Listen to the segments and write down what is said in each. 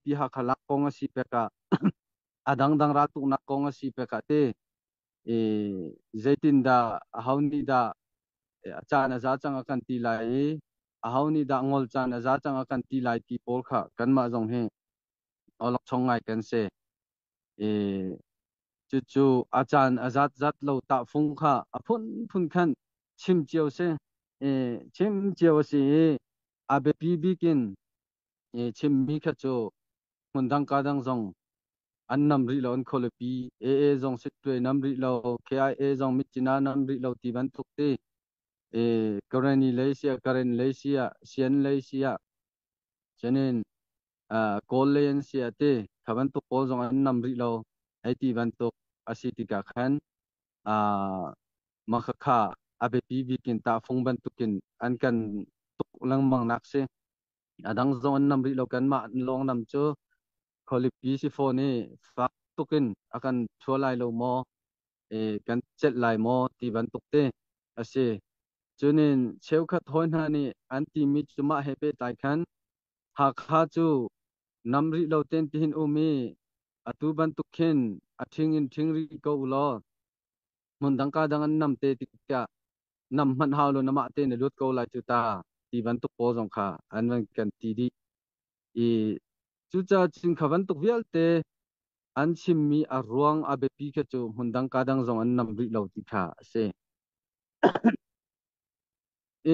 Ti Hakha lak kong a si pek ah a dangdang raltuknak kong a si pek ah te i zeitindah aho nih dah a caan a za cang a kan ti lai i aho nih dah ngol caan a za cang a kan ti lai ti pawl kha kanmah zong hi olokchong ngai kan si i cucu a caan a zat zat lo tahfung kha a phunphun khan chim cio si i chim cio a si i a biapi bik in chimmi kha cu hmundang ka dang zong an nam rih lo an khualipi AA zong sitwe nam rih lo KIA zong mitcina nam rih lo ti bantuk ti e Kareni lei sia Karen lei sia Sian lei sia Janin Kawl lei an sia te kha bantuk pawl zong an nam rih lo ai ti bantuk asi tika khan a makhakha abepi bikin ta phung bantukin an kan tuk lengmang nak si A dang zong an nam rih lo. Kanmah lawnglam cu khualipi si fawn i fak tuk in a kan thua lai lo maw, i kan celh lai maw ti bantuk te a si. Cunin cheukhat hawi hna nih an timi cu mah he pehtlai khan Hakha cu nam rih lo ten tihin um i atu bantuk khin a ṭhing in ṭhing rih ko u law hmun dangka dang an nam te tiah nam hmanh hau lo namah te na lut ko lai cu ta ti bantuk pawl zong kha an van kan ti dih i cucaah chin kha bantuk vialte an chimmi a ruang a biapi kha cu hmun dangka dang zong an nam rih lo ti kha a si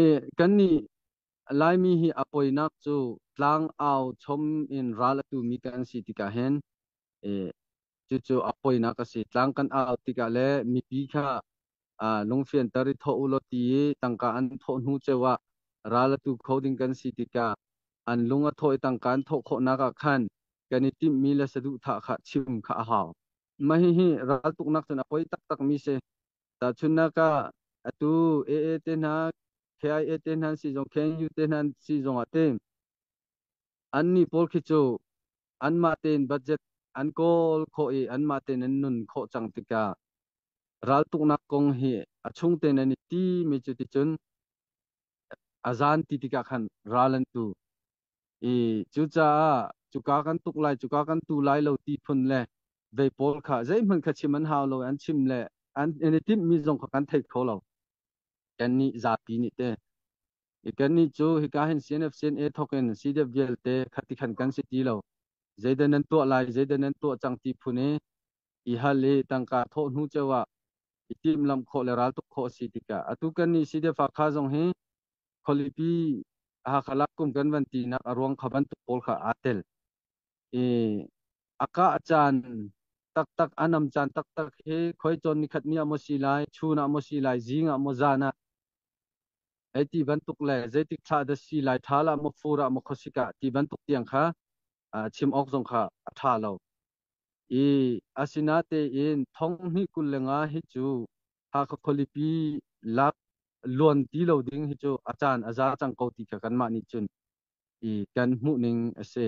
e kannih laimi hi a poinak cu tlang au chom in ral atu mi kan si tikah hin e Cucu a poinak a si. Tlang kan au tikah le mipi kha lungfianter i thawh u law ti i tangka an thawh hnu ceu ah ral a tu kho ding kan si tikah an lung a thaw i tangka an thawh khawhnak ah khan kan i timhmi le saduhthah kha chim kha a hau. Mah hihi raltuknak cun a poi taktakmi si. Tahchunhnak ah, atu AA te hna, KIA te hna si zong, KNU te hna si zong ah ti Annih pawl khi cu anmah tein budget an kawl khawh i anmah tein an nun khawh cang tikah raltuknak kong hi a chungte nan i timi cu ticun a zaan ti tikah khan ral an tu i cucaah cuka kan tuk lai cuka kan tu lai lo ti phun le vei pawl kha zeihmanh kha chim an hau lo an chim le an i timhmi zong kha kan thei kho lo kannih zapi nih teh I kannih cu hika hin CNF-CNA thawkin CDF vialte khati khan kan si ti lo. Zeidah nan tuah lai, zeidah nan tuah cang ti phun i i hal i tangka thawh hnu ceu ah i timhlamh khawh le raltuk khawh a si tikah atu kannih CDF Hakha zong hi khualipi Hakha lak kum kan van tinak a ruang kha bantuk pawl kha aa tel. I a kah caan taktak a nam caan taktak hi khoi cawn nikhat ni ah maw si lai, chun ah maw si lai, zing ah maw zan ah Ei ti bantuk le zeitik ṭha dah si lai ṭhal ah maw fur ah maw khuasik ah ti bantuk tiang kha chim awk zong kha a ṭha lo. I asinatein thonghnih kul le nga hi cu Hakha khualipi lak luan ti lo ding hi cu a caan a za cang ko ti kha kanmah nih cun i kan hmuhning a si.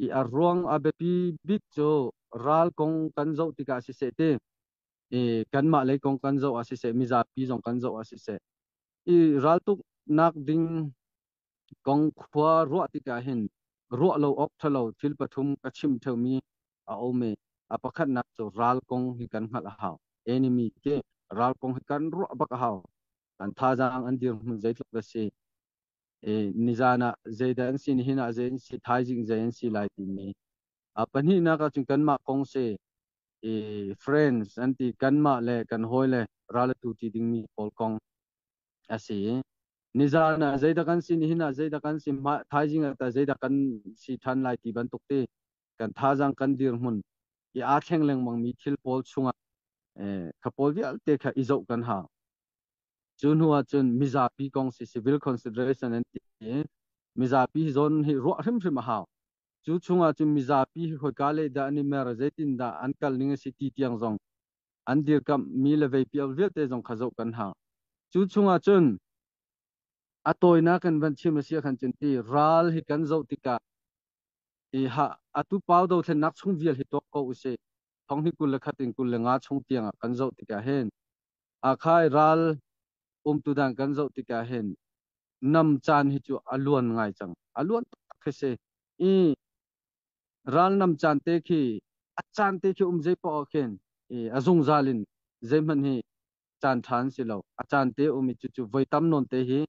I a ruang a biapi bik cu ral kong kan zoh tikah siseh ti i kanmah lei kong kan zoh ah siseh mizapi zong kan zoh ah siseh i raltuk nak ding kong khua ruah tikah hin ruah lo awk thalo thil pathum ka chim theumi a ome a pakhatnak cu ral kong hi kan hngalh a hau enemy te ral kong hi kan ruah bak a hau kan thazaang an dir hmun zeitluk da si e nizan ah zeidah an si nihin ah zei an si thaizing zei an si lai timi A pahnihnak ah cun kanmah kong si i friends an ti kanmah le kan hawile ral a tu ti dingmi pawl kong a si i nizan ah zeidah kan si nihin ah zeidah kan si mah thaizing ah zeidah kan si than lai ti bantuk ti kan thazang kan dirhmun i aa thleng lengmangmi thil pawl chungah eh, kha pawl vialte kha i zoh kan hau cu hnu ah cun mizapi kong si civil consideration an ti i mizapi hi zawn hi ruah hrimhrim a hau Cu chungah cun mizapi hi hawika lehdah an i mer, zeitindah an kal ning a si ti tiang zong an dirkamh mi le veipiak vialte zong kha zoh kan hau. Cu chungah cun a tawinak in van chim a si khan cun ti ral hi kan zoh tikah i ha atu pau dothlennak chung vial hi tuak ko usih. thong hi kul le khat in kul le nga chung tiang ah kan zoh tikah hin akhai ral umtu dan kan zoh tikah hin nam caan hi cu a luan ngai cang a luan tak khi si i ral nam caan te khi a caan te khi um zei pa ah khin i a zungzal in zeihman hi caan ṭhan si lo a caan te um i cucu voi tam nawn te hi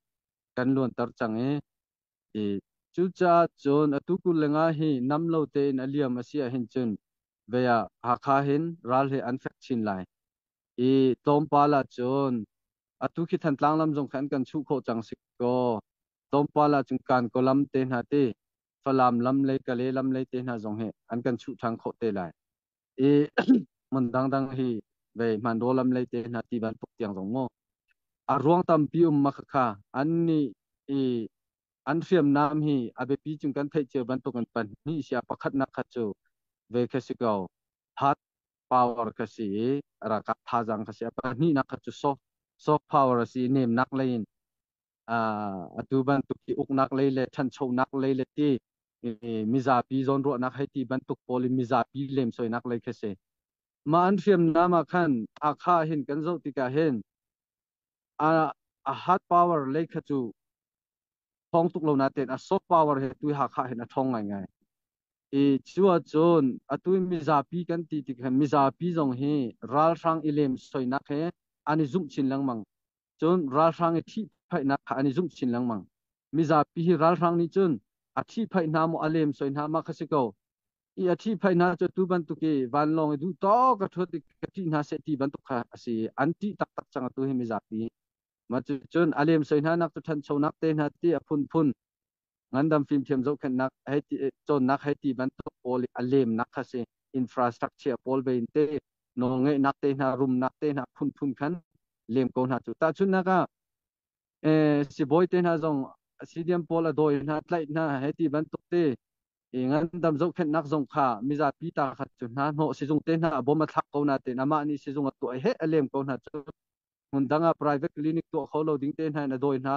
kan luanter cang i Cucaah cun atu kul lengah hi nam lo tein a liam a si ahhin cun vei ah Hakha hin ral hi an fek chin lai. I tlawmpal ah cun atu khi Thantlang lam zong kha an kan chuh khawh cang si kaw tlawmpal ah cun Kankaw lam te hna ti Falam lam le Kale lam le te hna zong hi an kan chuh ṭhan khawh te lai. I hmun dangdang hi vei hmanraw lam lei te hna ti bantuk tiang zong mu. A ruang tampi um ma khakha an nih i an hriamnam hi a biapi cung kan theih cio bantuk an pan ni sia pakhat nak khat cu ve kha si ko hard power ka si i rakap thazang ka si a pan ni nak khat cu soft soft power a si nem nak lei in atu bantuk hi uknak lei le ṭhanchonak lei le ti mizapi zawnruahnak hei ti bantuk pawl in mizapi lemsoinak lei kha si. Mah an hriamnam ah khan Hakha hin kan zoh tikah hin a hard power lei kha cu thong tuk lo natein a soft power he tu Hakha hin a ṭhong ngaingai. I cu ahcun atu mizapi kan ti tik khan mizapi zong hi ralhrang i lemsoinak he an i zumh chin lengmang. Cun ralhrang i ṭhihphaihnak kha an i zumh chin lengmang. Mizapi hi ralhrang nih cun a ṭhihphaih hna maw a lem soi hna ma kha si ko. I a ṭhihphaih hna cu tu bantuk i vanlawng i duhtawk a ṭhuat i ka ṭih hna seh ti bantuk kha a si i an ṭih taktak cang a tu hi mizapi. Mah cucun a lem soi hna nak cu ṭhanchonak te hna ti a phunphun ngandam fimthiam zohkhenhnak hei ti cawnnak hei ti bantuk pawl a lemnak kha si infrastructure pawl ve in te nawl ngeihnak te hna rumnak te hna phunphun khan lem ko hna cu tahchunnak ah eh sibawi te hna zong sidiam pawl a dawi hna tlaih hna hei ti bantuk te i ngandam zohkhenhnak zong kha mizapi ta kha cu hna hnawh sizung te hna a bom a thlak ko na te amah nih sizung a tuah he a lem ko hna cu hmun dang ah private clinic tuah kho lo ding te hna in a dawi hna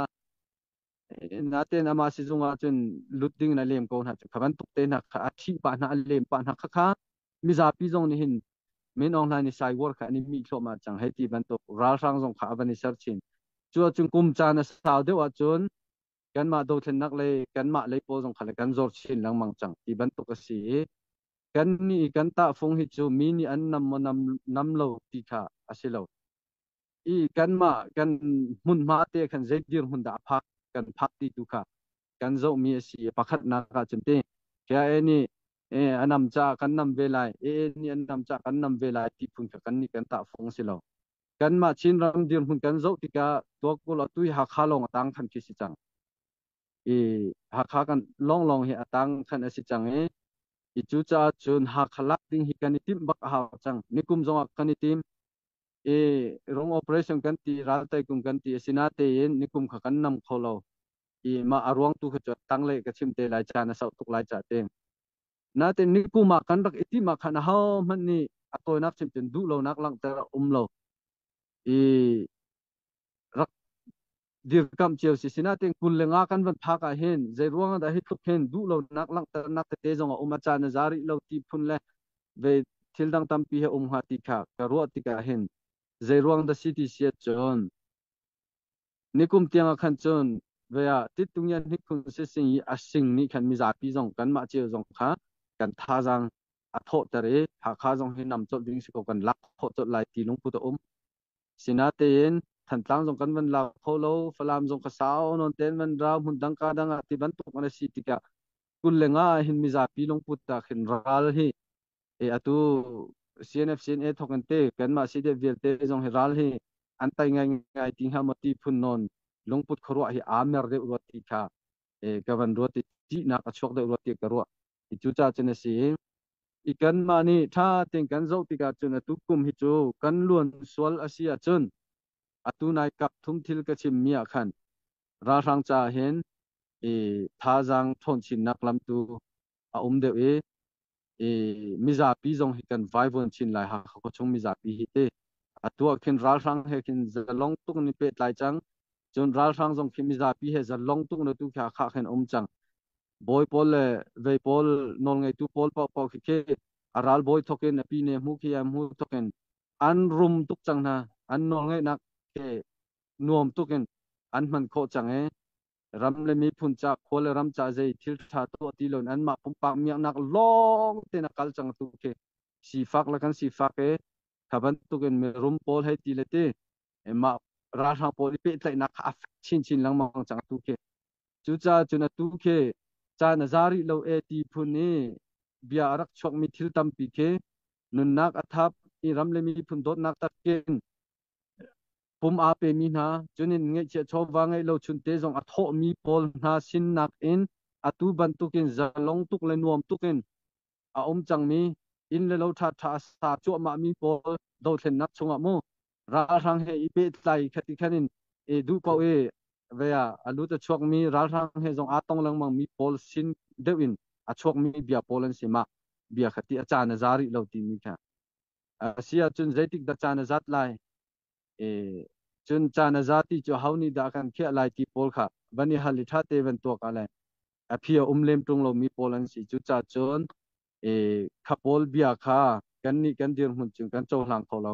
Natein amah sizung ah cun lut ding in a lem ko hna cu. Kha bantuk te hna kha a thih pah hna, a lem pah hna kha kha mizapi zong nih hin min ong hlan i saiwar kha an i mi thluahmah cang hei ti bantuk ralhrang zong kha a van i ser chin. Cu ahcun kum caan a sau deuh ahcun kanmah dothlennak le kanmah lei pawl zong kha le kan zor chin lengmang cang ti bantuk a si i kan nih kan tahfung hi cu mi nih an nam maw nam, nam lo ti kha a si lo. i kanmah kan hmunhma te khan zei dirhmun dah a phak kan phak ti tu kha kan zohmi a si pakhatnak ah cun ti kya e nih e anam ca kan nam ve lai e nih anam ca kan nam ve lai ti phun kha kan nih kan tah fong si lo kanmah chin ram dirhmun kan zoh tikah tuakul atui hakha lawng atang khan khi si cang i hakha kan long long hi atang khan asi cang e i cu ca cun hakha lak ding hi kan i tim bak a hau cang nikum zongah kan i tim i ram operation kan ti ral tai kum kan ti asi na tein nikum kha kan nam kho lo i mah a ruang tu kha cu tangle ka chim te lai ca na sauh tuk lai ca te natin nikum ah kan rak itim ah khan ho hman ni a tawinak chim tin duh lo nak langter um lo i rak dirkamh cio si sina te kun le nga kan van phak ah hin zei ruang dah hi tluk hin duh lo nak langhternak tete zong a um a caan a za rih lo ti phun le ve thil dang tampi he um hnga ti kha ka ruah tikah hin zei ruang dah si ti siat cun nikum tiang ah khan cun vea titung yan hnik khun se sing i asing ni khan mi zapi zong kan mah cio zong kha kan tha zang a thawh ter i hakha zong hi nam chawt ding si ko kan lak khawh chawt lai ti lung pu ta um Sinatein Thantlang zong kan van lak kho lo, Falam zong ka sau nawn tein van ra, hmun dang ka dang ah ti bantuk an si tikah kul le nga ah hin mizapi lungput ta khin ral hi e atu CNF CNA thok an te kanmah CDF vialte zong hi ral hi an tai ngai ngai ti hnga moti phun non lungput khuaruah hi aa mer deuh ruat ti kha e ka van ruat i ṭihnak a chuak deuh ruat ti ka ruah hi cu ca cun a si i kanmah nih ṭha tein kan zoh tikah cun atu kum hi cu kan luan sual a si ahcun atu nai kak thum thil ka chimmi ah khan ralhrang ca hin i thazaang ṭhawnchinnak lam tu a um deuh i i mizapi zong hi kan vaivuan chin lai ha kho chung mizapi hi te atu ah khin ralhrang he khin zalong tuk ni pe tlai cang cun ralhrang zong khi mizapi he zalong tuk na tu kha kha khin um cang bawi pawl le zei pawl nawlngeitu pawl paohpaoh khi khi a ralbawi thokin a pi ne hmu khi a hmu thokin an rum tuk cang hna an nawlngeihnak ke nuam tukin an hman khawh cang e ram le miphun ca khua le ram ca zei thil tha tuah ti loin anmah pumpak miaknak lawng ten a kal cang tu khi sifak la kan sifak e khaban tukin mirum pawl hei ti le ti mah ralhrang pawl i pehtlaihnak kha a chin chin lengmang cang tu khi Cucacun atu khi caan a za rih lo e ti phun i bia a rak chuakmi thil tampi khi nunnak a thap i ram le miphun dawtnak takin pum aa pemi hna cunin ngeihchiah chawva ngeih lo chunte zong a thawhmi pawl hna sin nakin atu bantukin zalong tuk le nuam tukin a um cangmi inn le lo ṭhaṭha a sa cuahmahmi pawl dothlennak chungah mu ralhrang he i pehtlai khat ti khan in e duh paoh e ve a lu ta chuakmi ralhrang he zong aa tong lengmang mi pawl sin deuh in a chuakmi bia pawl an si ma bia khati a caan a za rih lo ti mi kha a si ahcun zeitik da caan a zat lai e cun caan a za ti cu hau ni da kan khiah lai ti pawl kha van i hal i tha te van tuak a lai a phia um lem tung lo mi pawl an si cu ca cun e kha pawl bia kha kan nih kan dir hmun cun kan cohlang kho lo